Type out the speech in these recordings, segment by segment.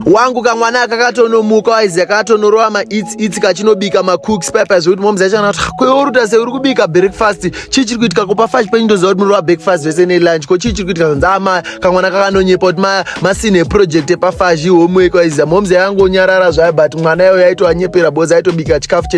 wangu kamwana aka katonomuka waiziya katonorova maitsi itsi kachinobika macooks paipa zvekuti moms yacho kana kuti ah, kweoruta sei uri kubika breakfast chii chiri kuitika kupa fash penyu ndoziva kuti munorova breakfast vese nelunch ko chii chiri kuitika zvanzi ama ah, kamwana kakanonyepa kuti masine project epafash ihomework waiziya moms yaangonyarara zvayo but mwana yayo yaitoanyepera boza aitobika chikafu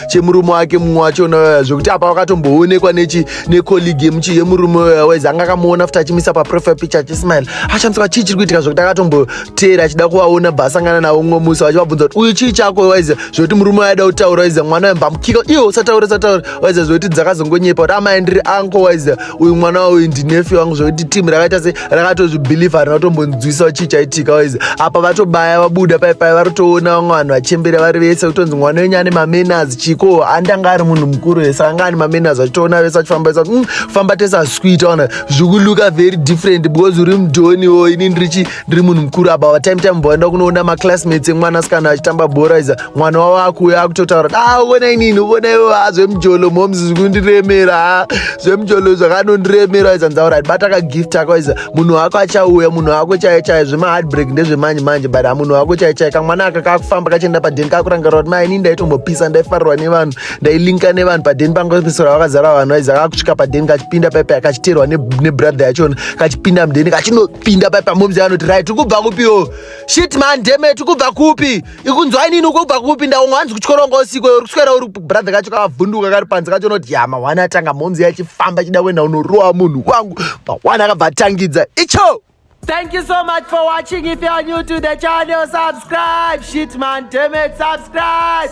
chemurume wake mumwe wachona waya zvekuti apa wakatomboonekwa nechi necolleague yemuchi yemurume waya waizi anga akamuona futi achimisa paprofile picture achismile achamisa chii chiri kuitika zvekuti akatombo teera achida kuvaona bva asangana navo umwe musi vachivabvunza kuti uyu chii chako waiza zvekuti murume waida kutaura waiza mwana wembamukika iwe usataura usataura waiza zvekuti dzakazongonyepa kuti amai ndiri anko waiza uyu mwana wauyu ndinefi wangu zvekuti timu rakaita se rakatozvibhilivha harina kutombonzwisawo chii chaitika waiza apa vatobaya vabuda pai pai varotoona vamwe vanhu vachembera vari vese kutonzi mwana wenyu ane mamenas chiko handi anga ari munhu mukuru vese anga ane mamenas vachitoona vese vachifamba vese kuti mm, famba tese asikuita ona zvikuloka very different because uri mudhoniwo ini ndirichi ndiri munhu mukuru aba vatime time vaenda kunoona maclassmates emwana asikana achitamba bhora iza mwana wavo akuuya akutotaura kuti ah vona inini vona ivo ha ah, zvemujolo moms zvikundiremera ha ah, zvemujolo zvakanondiremera iza ndzaura bata kagift ako iza munhu wako achauya munhu wako chaiye chaiye zvemaheartbreak ndezvemanje manje but hamunhu ah, wako chaiye chaiye kamwana aka kakufamba kachienda padeni kakurangarira kuti maini ndaitombopisa ndaifarirwa nevanhu ndailinka nevanhu padeni pangopisira vakazara vanhu aiza kakusvika padeni kachipinda paipa kachiterwa nebrother yachona kachipinda mudeni kachino kupinda paipa momzi vanoti rai tiri kubva kupiwo shit man deme tiri kubva kupi ikunzwa inini ukubva kupi ndaunga hanzi kutyora unga usiku uri kuswera uri brother kacho kakavhunduka kari panze kacho unoti ya mahwani atanga momzi yachifamba chida kuenda unorowa munhu wangu mahwani akabva atangidza icho Thank you so much for watching. If you are new to the channel, subscribe. Shit, man, damn it, subscribe.